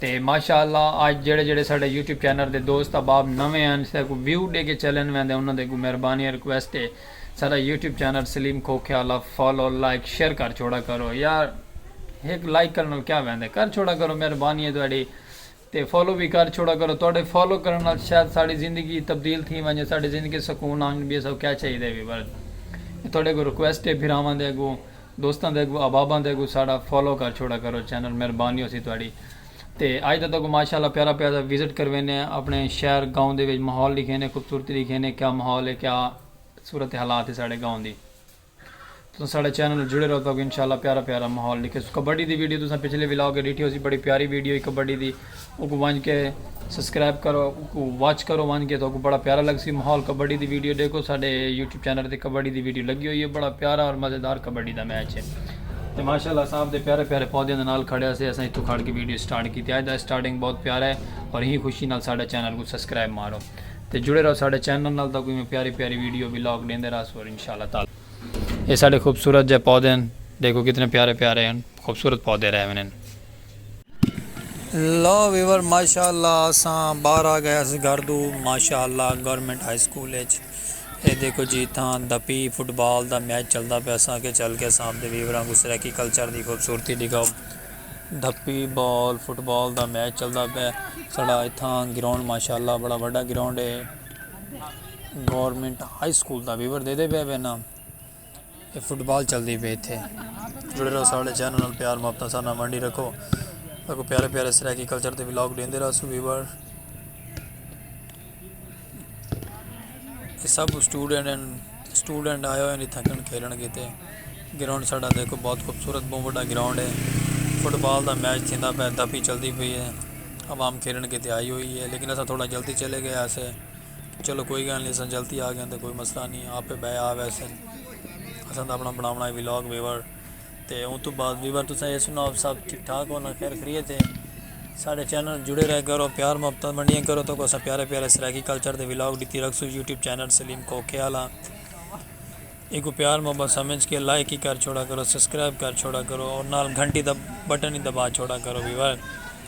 تے ماشاء اللہ آج جیڑھے جیڑھے ساڈے یوٹیوب چینل دے دوست احباب نویں ہن ساڈے کوں ویو ڈے کے چلن ویندے انہاں دے اگوں مہربانی ہے ریکویسٹ ہے ساڈا YouTube channel Saleem Khokhiala follow like share کر چھوڑا کرو یار ہک لائک کرن نال کیا ویندے کر چھوڑا کرو مہربانی ہے تہاڈی تے فالو وی کر چھوڑا کرو تہاڈے فالو کرن نال شاید ساڈی زندگی تبدیل تھیں ونجے ساڈی زندگی سکون آن بی اساکوں کیا چاہیدے وی بس تہاڈے اگوں ریکویسٹ ہے بھراواں دے اگوں دوستاں دے اگوں احباباں دے اگوں ساڈا فالو کر چھوڑا کرو چینل مہربانی ہوسی تہاڈی تے اج دا تہاکوں ماشاءاللہ پیارا پیارا سا وزٹ کروینے آں اپنے شہر گاؤں دے وچ ماحول ڈکھینے خوبصورتی ڈکھینے کیا ماحول ہے کیا صورت حالات ہے ساڈے گاؤں دی تساں ساڈے چینل نال جڑے رہو تہاکوں انشاءاللہ پیارا پیارا ماحول ڈکھیسوں کبڈی دی ویڈیو تساں پچھلے ولاگ اچ ڈٹھی ہوسی بڑی پیاری ویڈیو ہی کبڈی دی۔ اوکوں ونج کے سبسکرائب کرو اوکوں واچ کرو ونج کے تہاکوں بڑا پیارا لگ سی ماحول کبڈی دی ویڈیو ڈیکھو ساڈے یوٹیوب چینل تے کبڈی دی ویڈیو لگی ہوئی ہے بڑا پیارا اور مزیدار کبڈی دا میچ ہے تے ماشاءاللہ اساں اپ دے پیارے پیارے پودیاں دے نال کھڑے ہسے اساں اتھوں کھڑ کے ویڈیو سٹارٹ کیتی اج دا سٹارٹنگ بہت پیارا ہے اور ہی خوشی نال ساڈا چینل کوں سبسکرائب مارو تے جڑے رہو ساڈے چینل نال تہاکوں ایویں پیاری پیاری ویڈیو ولاگ ڈیندے رہسوں اور انشاءاللہ تعالی اے ساڈے خوبصورت جے پودے ہن ڈیکھو کتنے پیارے پیارے ہن خوبصورت پودے رہے ہوئے ہن۔ لو ویور ماشاء اللہ اساں باہر آ گئے اس گھر دو ماشاء اللہ گورنمنٹ ہائی سکول اچ اے دیکھو جی تھاں دپی فٹ بال دا میچ چلدا پیا اساں کے چل کے اساں دے ویوراں کو سرائیکی کلچر دی خوبصورتی دکھاؤ دپی بال فٹ بال دا میچ چلدا پیا سڑا اتھاں گراؤنڈ ماشاء اللہ بڑا بڑا گراؤنڈ ہے گورنمنٹ ہائی سکول دا ویور دے دے پیا پیا نا اے فٹ بال چلدی پئی تھے جڑے رہو ساڑے چینل نال پیار محبتاں سارے نال ونڈی رکھو اگو پیارے پیارے سرائیکی کلچر دے ولاگ ڈیندے رہسو ویور اے سب سٹوڈنٹ ہیں سٹوڈنٹ آئے ہوئے ہیں تھکن کھیلن کیتے گراؤنڈ ساڑا دیکھو بہت خوبصورت بہت بڑا گراؤنڈ ہے فٹ بال دا میچ تھیندا پہ دپی چلدی پئی ہے عوام کھیلن کیتے آئی ہوئی ہے لیکن اسا تھوڑا جلدی چلے گئے اسے چلو کوئی گالھ نی اساں جلتی آ گیاں تے کوئی مسئلہ نی آپے بئے آ ویسن اساں تاں اپنا بناونا ہے ولاگ ویور تے اوں تو بعد ویور تساں اے سناؤ سب ٹھیک ٹھاک ہو نا خیر خیریت ہے ساڈے چینل جڑے رہ کرو پیار محبت منڈیاں کرو تو کو اساں پیارے پیارے سرائیکی کلچر دے ولاگ ڈتی رکھسو یوٹیوب چینل سلیم کوکے آلا ایکو پیار محبت سمجھ کے لائک ہی کر چھوڑا کرو سبسکرائب کر چھوڑا کرو اور نال گھنٹی دا بٹن ہی دبا چھوڑا کرو ویور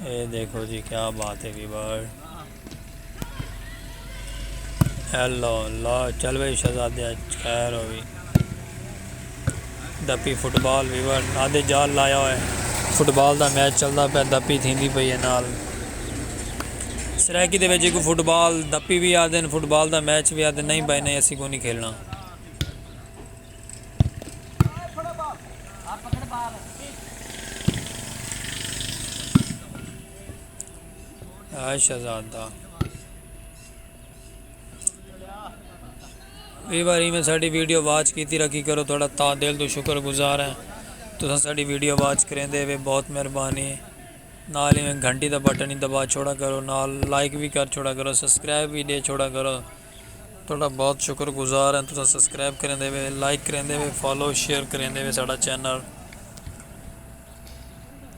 اے دیکھو جی کیا بات ہے وی بار ہیلو لا چل بھائی شہزادے خیر ہوئی دپی فٹ بال ویور آدھے جال لایا ہوئے فٹ بال دا میچ چلتا پیا دپی تھیندی پئی ہے نال سرائیکی دے وچ کو فٹ بال دپی بھی آدھے فٹ بال دا میچ بھی آدھے نہیں بھائی نہیں اسی کو نہیں کھیلنا اے شہزادہ وی باری میں ساڑی ویڈیو واچ کیتی رکھی کرو تھوڑا تا دل تو شکر گزار ہیں تو ساڑی ویڈیو واچ کریں دے وے بہت مہربانی نال ہی میں گھنٹی دا بٹن ہی دبا چھوڑا کرو نال لائک بھی کر چھوڑا کرو سبسکرائب بھی دے چھوڑا کرو تہاڈا بہت شکر گزار ہیں تساں سبسکرائب کریندے وے لائک کریندے وے فالو شیئر کریندے وے ساڈا چینل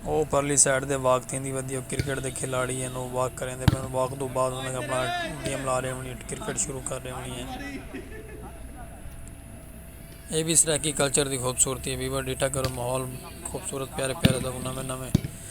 او پرلی سائیڈ دے واک تھیندی ودی او کرکٹ دے کھلاڑی ہیں او واک کریندے پے ان واک دو بعد انہاں اپنا گیم لا رہے ہونی کرکٹ شروع کر رہے ہونی ہیں اے بھی سرائیکی کلچر دی خوبصورتی ہے ویور ڈیٹا کرو ماحول خوبصورت پیارے پیارے دا نویں نویں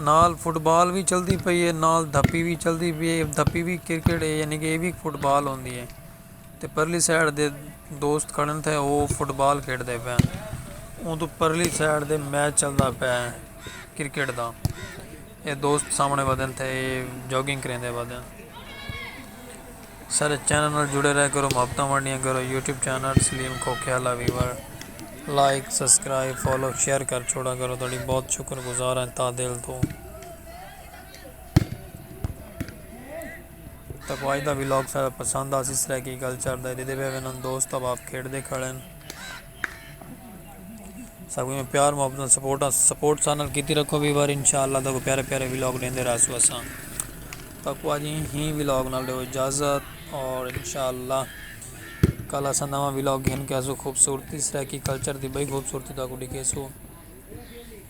نال فٹ بال وی چلدی پئی ہے نال دھپی وی چلدی پئی ہے دھپی وی کرکٹ ہے یعنی کہ یہ وی فٹ بال ہوندی ہے تے پرلی سائڈ دے دوست کھڑن تھے وہ فٹ بال کھیڈ دے پئے اوں تو پرلی سائڈ دے میچ چلدا پئے ہیں کرکٹ دا یہ دوست سامنے ودن تھے جاگنگ کریں دے ودن سارے چینل نال جڑے رہیا کرو محبتاں ونڈیاں کرو YouTube channel Saleem Khokhiala viewer like subscribe follow share کر چھوڑا کرو تہاڈی بہت شکر گزار ہیں تہہ دل توں تکو اج دا ولاگ سارے پسند آسی سرائیکی کلچر دا دیدے پے ونن دوست احباب کھیڈ دے کھڑن ساکوں ایویں پیار محبت نال سپورٹ آ سپورٹ سا نال کیتی رکھو وی واری انشاءاللہ تاکو پیارے پیارے ویلاگ ڈیندے رہسو اساں تاکو اج ہی ویلاگ نال دیو اجازت اور انشاءاللہ کل اساں نواں ویلاگ گھن کے اسو خوبصورتی سرائیکی کلچر دی بئی خوبصورتی تاکو ڈکھیسو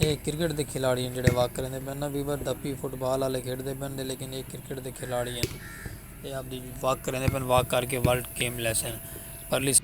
ایہ کرکٹ دے کھلاڑی ہن جیہڑے واک کریندے پئے ہن۔ ویور ڈپی فٹ بال آلے کھیڈدے پئے ہن لیکن ایہ کرکٹ دے کھلاڑی ہن۔ ایہ اپݨی واک کریندے پئے ہن۔ واک کر کے ورلڈ گیم لیسن۔ پرلی سائیڈ۔